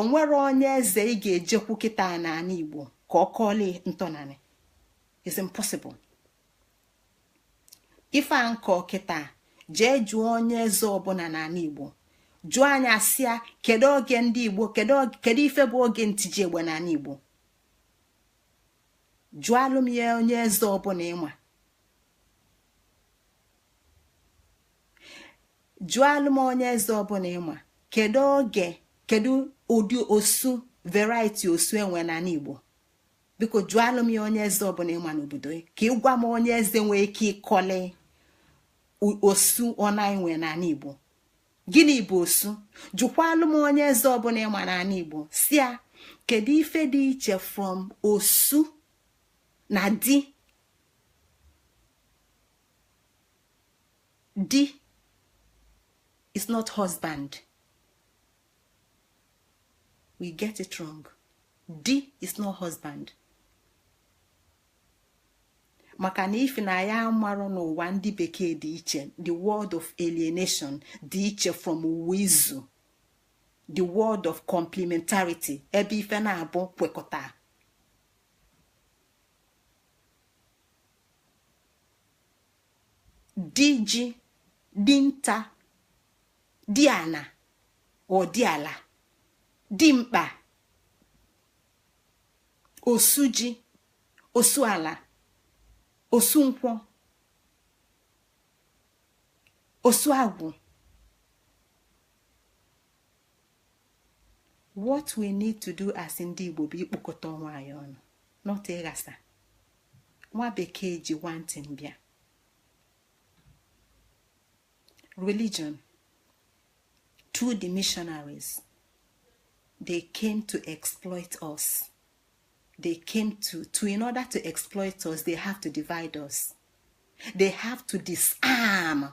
onwerọ onye eze ị ga-ejekwu kịta n'ala igbo ka ọ kọọlụ ntọnanị it's impossible ife a m kọ kịta jee jụọ onye eze ọbụna n'ala igbo jụọ ya sị ya kedu oge ndị igbo kedu ife bụ oge ntiji egbe n'ala igbo jụalụ m ya onye eze ọbụna ị ma jụalụ m onye eze ọbụna ị ma kedu oge kedu ụdị osu variety osu e nwe n'ala igbo biko jụalụ m ya onye eze ọbụna ị ma n'obodo ka ị gwa m onye eze nwee ike ịkọli osu one e nwe n'ala igbo gịnị bụ osu jụkwalụ m onye eze ọbụna ị ma n'ala igbo sị ya kedu ife dị iche from osu na di di is not husband we get it wrong di is not husband maka na ife na anyị amarọ n'ụwa ndị bekee dị iche the world of alienation dị iche from ụwa izu the world of complementarity ebe ife naabọ kwekọta di ji di nta di ana or di ala di mkpa osu ji osu ala osu nkwọ osu agwụ what we need to do as ndị Igbo bụ ikpokọta onwe anyị ọnụ not ịghasa nwa bekee ji one thing bịa religion through the missionaries they came to exploit us they came to to in order to exploit us they have to divide us they have to disarm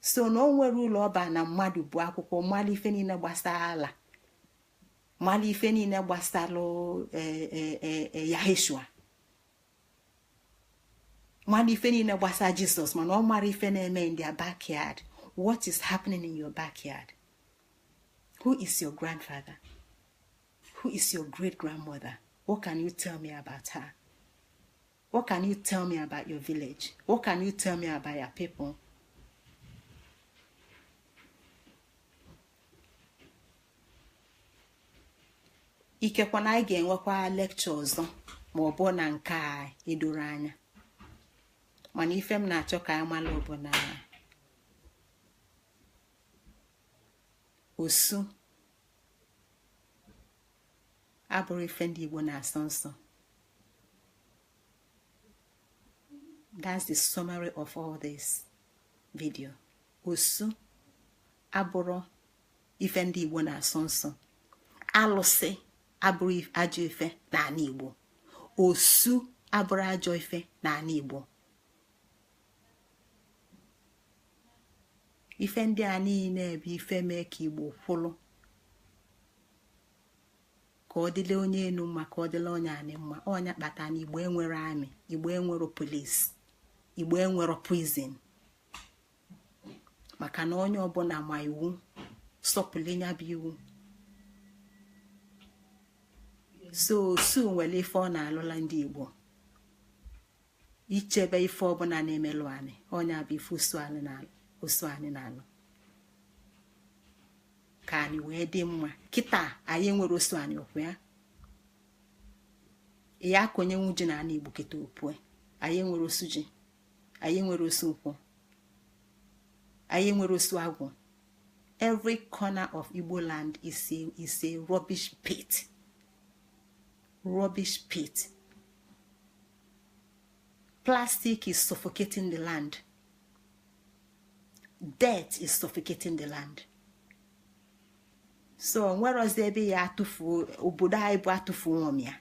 so na o nwerọ ulu ọ ba na mmadụ gụọ akwụkwọ malụ ife niile gbasara allah malụ ife niile gbasara e, e, e, yaheshua malụ ife niile gbasara jizọs mana ọ marọ ife na-eme in their backyard what is happening in your backyard who is your grandfather who is your great grandmother what can you tell me about her What can you tell me about your village? What can you tell me about your people? ikekwa na anyị ga-enwekwa lecture ọzọ ma ọ bụ na nke a edoro anya mana ife m na-achọ ka anyị mara bụ na osu abụrọ ife ndị Igbo na-asọ nsọ that's the summary of all this video osu abụrọ ife ndị igbo na-asọ nsọ alụsị abụrọ ajọ ife n'anị igbo osu abụrọ ajọ ife n'anị igbo ife ndị a niile bụ ife mee ka igbo kwụlụ ka ọ dịla onye enu mma ka ọ dịla onye anị mma ọ nya kpata na igbo enwerọ army igbo enwerọ police igbo enwerọ prison maka na onye ọbụla ma iwu sọpụlụ nya bụ iwu so osu nwere ife ọ na-alụla ndị igbo ichebe ife ọbụla na-emelụ anị ọ nya bụ ife osu anị na-alụ ka anị wee dị mma kịta anyị enwerọ osu anị okwu ya ya ka onye nwu ji n'anị igbo kịta opue anyị enwerọ osu ji anyị enwerọ osu nkwụ anyị enwerọ osu agwụ every corner of igbo land is a is a rubbish pit rubbish pit plastic is suffocating the land dirt is suffocating the land so nwerozi ebe ya atụfu obodo anyị bụ atụfuo ọ mịa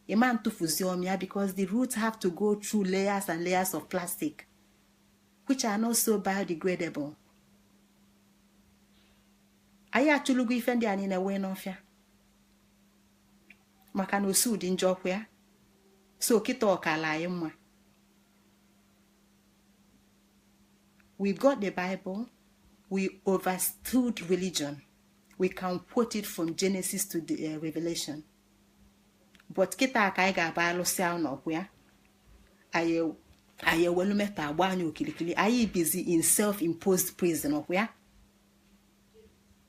ị ma atụfuzi ọ mịa because the roots have to go through layers and layers of plastic which are not so biodegradable anyị achụlugo ife ndị a niine wee n'ọfịa maka na osu dị njọ ọkwa ya so kịta ọ kala anyị mma we got the bible we overstood religion we can quote it from genesis to the uh, revelation but kịta ka anyị ga-abịa lụsịa ụnọ ọkwa ya anyị ewelu metal gbaa anyị okilikili anyị bizi in self-imposed prison ọkwa ya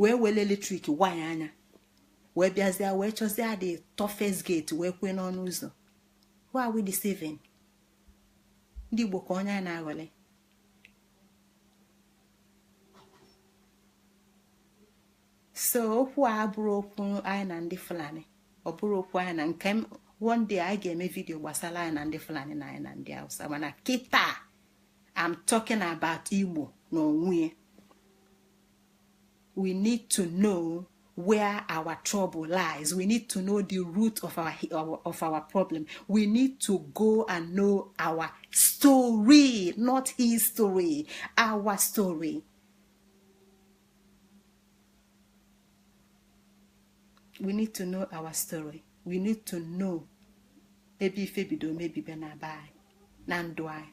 wee wele electric wire ya wee bịazie wee chọzie the toughest gate wee kwee n'ọnụ ụzọ who are we deceiving ndị Igbo kee onye a na-aghọli so okwu a abụrọ okwu anyị na ndị Fulani ọ bụrọ okwu anyị na nke one day anyị ga-eme video gbasara anyị na ndị Fulani na anyị na ndị Hausa mana kịta I'm talking about Igbo n'onwe we need to know where our trouble lies we need to know the root of our, our of our problem we need to go and know our story not history our story we need to know our story we need to know ebe ife bido mebibe na be anyị na ndụ anyị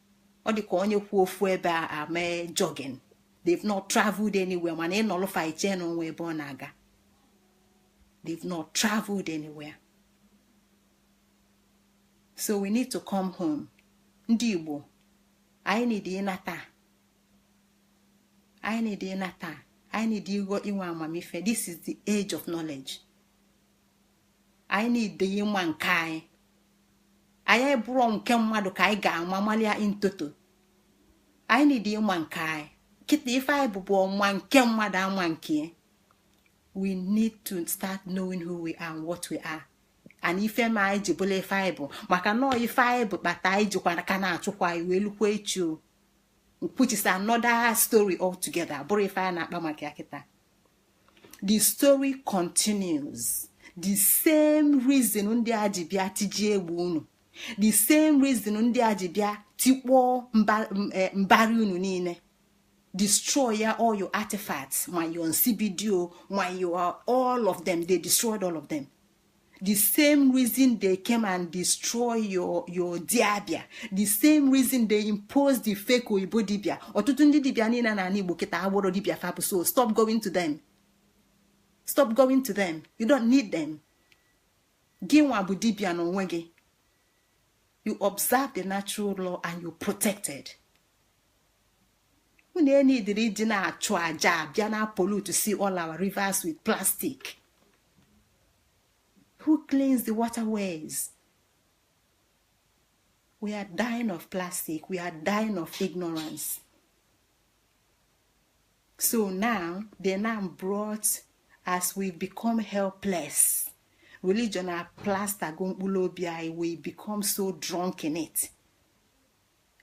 ọ dị ka onye kwụ ofu ebe eme jogging they've not traveled anywhere mana ị nọlụ fa iche na o nwe ebe ọ na-aga they've not traveled anywhere so we need to come home ndị Igbo anyị need ịnata anyị need ịnata anyị need ịghọ inwe amamife this is the age of knowledge anyị need ịma nke anyị ọ bụrọ nke mmadụ ka anyị ga-ama malịa in toto anyị need ịma nke anyị kịta ife anyị bụ bụ ọma nke mmadụ ama nke we need to start knowing who we are and what we are and ife mee anyị ji bụlụ ife anyị bụ maka na ọọ ife anyị bụ kpata anyị jikwa ka na-achụkwa anyị wee lukwa echi o which is another story altogether ọ bụrọ ife anyị na-akpa maka ya kịta the story continues the same reason ndị a ji bịa tijie egbe unu the same reason ndị a ji bịa tikpọọ eh, mbari unu niine destroy ya all your artifacts ma your nsibidi o ma your all of them they destroyed all of them the same reason they came and destroy your your diabia the same reason they impose the fake oyibo dibia ọtụtụ ndị dibia niine na Igbo kịta abụrọ dibia fa bụ so stop going to them stop going to them you don't need them gị nwa bụ dibia n'onwe gị you observe the natural law and you protected unu enidiri ịdị na-achụ aja bịa na-pollute si all our rivers with plastic who cleans the waterways we are dying of plastic we are dying of ignorance so now they now brought as we become helpless religion a plaster go mkpụlụ obi anyị we become so drunk in it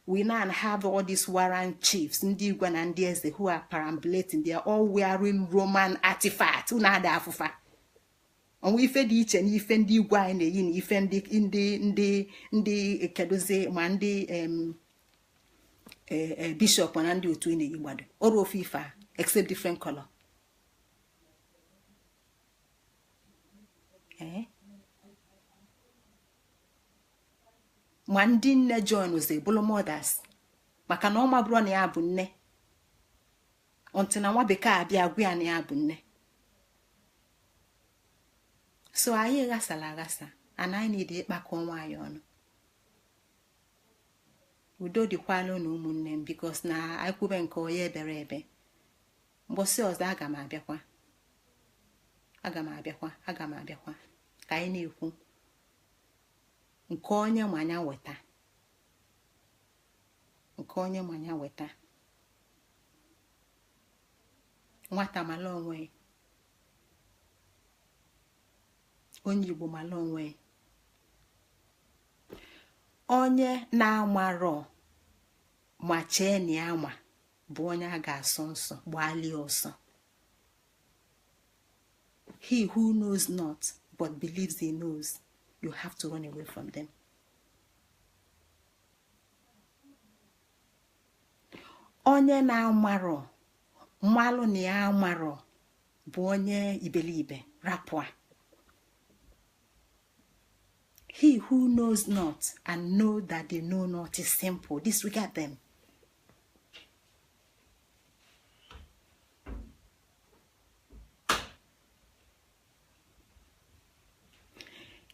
we now have all these warrant chiefs ndị igwe na ndị eze who are perambulating they are all wearing roman artifacts unu ada afụ fa o nwe ife dị iche n'ife ndị igwe anyị na-eyi na ife ndị ndị ndị ndị kedụzi ma ndị e, e, bishọp na ndị otu ị na-eyigbado ọrọ ofu ife a except different color eh? ma ndị nne joinzi bụrụ mothers maka na ọ mabụrọ na ya bụ nne until nwa bekee abịa gwa ya na ya bụ nne so anyị ghasara aghasa and anyị need ịkpakọ onwe anyị ọnụ udo dịkwalụ nụ ụmụnne m because na akwube nke onye ebere ebe mbọsị ọzọ aga m abịakwa ka anyị na-ekwu nke onye ma ya weta nke onye ma ya weta nwata mala onwe onye igbo mala onwe onye na-amarọ ma chee na ya ma bụ onye a ga-asọ nsọ gbalie ọsọ he who knows not but believes he knows you have to run away from them onye na-amarọ malụ na ya amarọ bụ onye iberibe rapụ a he who knows not and know that they know not is simple disregard them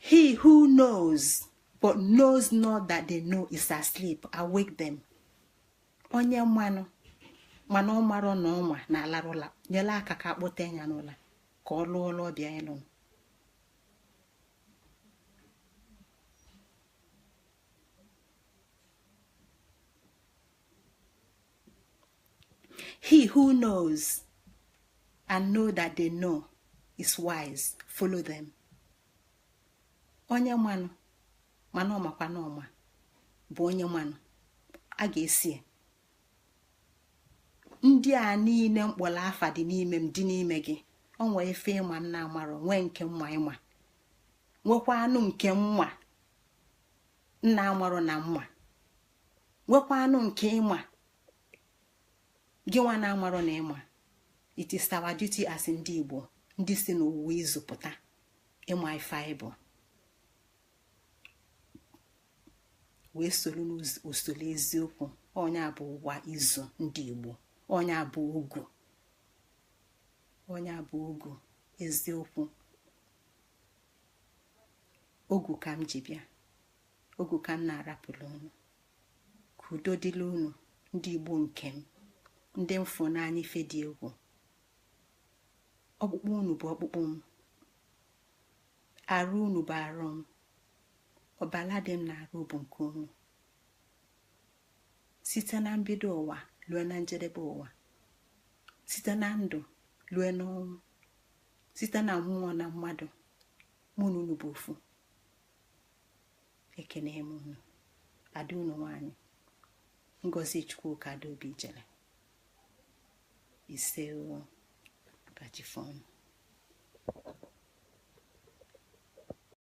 He who knows but knows not that they know is asleep, awake them. Onye malụ mana ọ marọ na ọ ma na-alarụ ụla nyela aka ka a kpọta anya n'ụla ka ọ lụọ ọlụ ọ bịa ịlụ he who knows and know that they know is wise follow them onye manụ mana ọ makwa na ọ ma bụ onye manụ a ga-eso ndị a niile m kpọrọ afa dị n'ime m dị n'ime gị o nwee ife ị ma m na-amarọ nwee nke m ma ị ma nwekwanụ nke m ma m na-amarọ na m ma nwekwanụ nke ị ma gị nwa na-amarọ na ị ma it is our duty as ndị Igbo ndị si n'ụwa izu pụta ịma ife anyị bụ wee soro n'usoro eziokwu ọ nya bụ ụwa izu ndị Igbo ọ nya bụ ogu ọ nya bụ ogu eziokwu ogu ka m ji bịa ogu ka m na-arapụrụ unu ka udo dịla unu ndị igbo nke m ndị m fụ n'anya ife dị egwu ọkpụkpụ unu bụ ọkpụkpụ m arụ unu bụ arụ m ọbala dị m n'arụ bụ nke unu site na mbido ụwa lue na njedebe ụwa site na ndụ lue n'ọnwụ site na mmụọ na mmadụ mụ na unu bụ ofu ekene m unu ada unu nwanyị ngozi chukwuka adaobijele ise ka chi fo nụ